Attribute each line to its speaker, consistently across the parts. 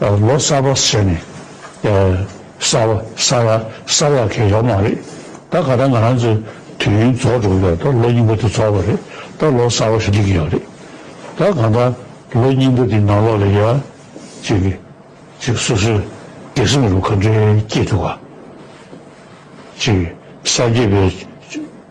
Speaker 1: ལོ་གསར་པ་ཟེར་ནས་གསར་བ་གསར་བ་གསར་བ་གས་ཡོག་མ་རེད་ད་ག་ད་ང་རང་ཚོའི་དུས་ཡུན་རྫོགས་འགྲོ་གི་ཡོག་ད་ལོ་སྙིང་པོ་དེ་རྫོགས་པ་རེད་ད་ལོ་གསར་བ་ཞིག་སྒྲིག་གི་ཡོག་རེད་ད་གང་ལྟར་ལོ་སྙིང་པོ་དེ་ནང་ལོག་ལ་ཡོད་ཨ་ཅིག་གི་ཅིག་སོ་སོའི་སྒེར་སེམས་རུ་ག་འདྲའི་སྐྱིད་འདུག་ཨ་ཅིག་གི་སངས་རྒྱས་པའི།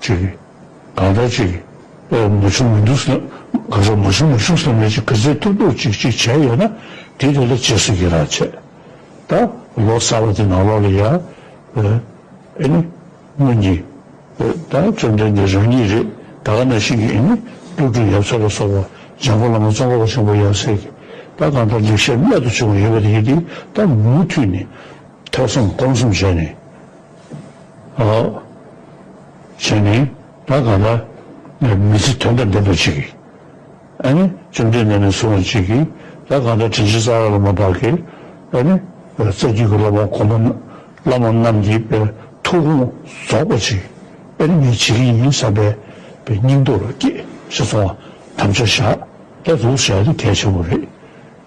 Speaker 1: ཅིག། གང་ལྟར་ཅིག། མ་བྱུང་མི་འདུག་བསམ། གང་ལྟར་མ་བྱུང་མ་བྱུང་བསམ་མེད་ཅིག་གི་ཚེ་ཐུགས་རྡོ་གཅིག་ཅིག་བྱས་ཡོད་ན་དེའི་དོན་ལ་ཇི་སྲིད་ཀྱི་ར་ཆད། ད། ལོ་ཙཱ་བ་དེ་ནང་ལོགས་ལ་ཡར། ཨེ་ནི། སྔོན་གྱི། ད་བཅོམ་ལྡན་འདས་རང་ཉིད་རེད་ད་ག་ན་ཞིག་གི་ཨེ་ནི། ཀླུ་སྒྲུབ་ཡབ་ཚོལ་ལ་སོགས་པ་འཇམ་པོ་བླ་མ་ཙོང་ཁ་བ་ཆེན་པོ་ཡབ་སྲས་ཀྱིས་ད་གང་ལྟར་ལེགས་བཤད་རྨད་དུ་བྱུང་བ་ཡོད་པ་དེ་ཡིན་ཏེ་ད་མུ་མཐུད་ནས། ཐོས་བསམ་སྒོམ་གསུམ་བྱས་ནས། ཨོ། བྱས་ནས་ད་ག་ལ། མི་ཚེ་དོན་དང་ལྡན་པ་ཅིག་གིས། ཨ་ནི། བཅོམ་ལྡན་འདས་ནས་བཟུང་བ་ཅིག་གིས་ད་ག་ལ་དྲིན་ཆེན་རྩ་བ་ལ་མ་འབག་གི། ཨ་ནི། རྩ་རྒྱུད་ཀྱི་སློབ་མ་གོང་མ་བླ་མ་རྣམས་ཀྱི་པའི་ཐུགས་དགོངས་རྫོགས་པ་ཅིག་གིས་ཨ་ནི་ངས་བྱེད་ཀྱི་ཡིན་བསམ་པའི་པའི་སྙིང་སྟོབས་ལ་བསྐྱེད་བཞག་སོང་བ་དམ་བཅའ་བཞག་ད་འཛུགས་བྱས་ན་གལ་ཆེན་པོ་རེད།